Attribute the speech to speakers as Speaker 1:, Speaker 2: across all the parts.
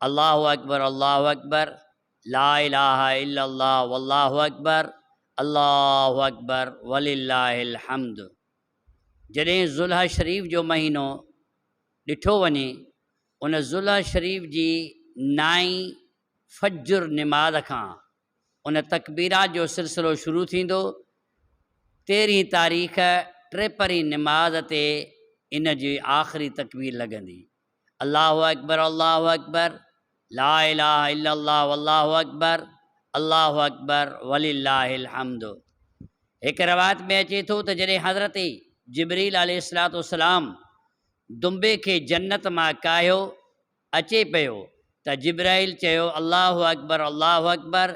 Speaker 1: الله اڪبر الله اڪبر لا اله الا الله والله اڪبر الله اڪبر ولله الحمد جڏهن ذوالحه شريف جو مهينو ڏٺو وڃي ان ذوالحه شريف جي نائين فجر نماز کان ان تڪبيرات جو سلسلو شروع ٿيندو تيرهين تاريخ ٽيپهرين نماز تي ان جي آخري تڪبير لڳندي الله اڪبر الله اڪبر لا اله الا الله والله اڪبر الله اڪبر ولله الحمد هڪ روايت ۾ اچي ٿو ته جڏهن حضرت جبريل عليه الصلوۃ والسلام دنبي کي جنت مان ڪاهيو اچي پيو ته جبرائيل چيو الله اڪبر الله اڪبر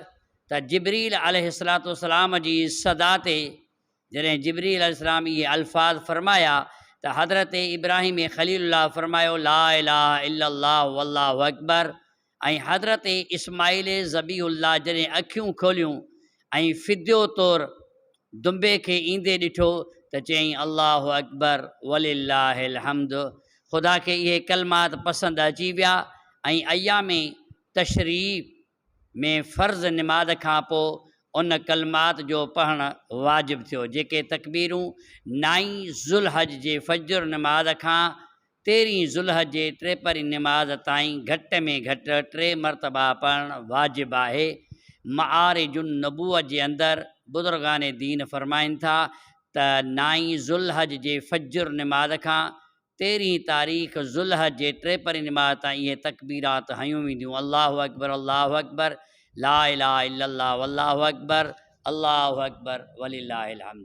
Speaker 1: ته جبريل عليه الصلوۃ والسلام جي صدا تي جڏهن جبريل عليه السلام اهي الفاظ فرمايا ته حضرت ابراهيم خليل الله فرمايو لا اله الا الله والله اڪبر ۽ حضرت اسماعيل ذبيح الله جڏهن اکيون کوليون ۽ فديو طور دنبي کي ايندي ڏٺو ته چيائين الله اڪبر ولله الحمد خدا کي اهي ڪلمات پسند اچي ويا ۽ ايام تشريق ۾ فرض نماز کان پوء ان ڪلمات جو پڙهڻ واجب ٿيو جيڪي تڪبيرون نائين ذوالحج جي فجر نماز کان تيرهين ذوالحج جي ٽيپهرين نماز تائين گهٽ ۾ گهٽ ٽي مرتبا پڙهڻ واجب آهي معارج النبوة جي اندر بزرگان دين فرمائن ٿا ته نائين ذوالحج جي فجر نماز کان تيرهين تاريخ ذوالحج جي ٽيپرين نماز تائين اهي تڪبيرات هنيون وينديون، الله اڪبر الله اڪبر، لا اله الا الله والله اڪبر، الله اڪبر ولله الحمد.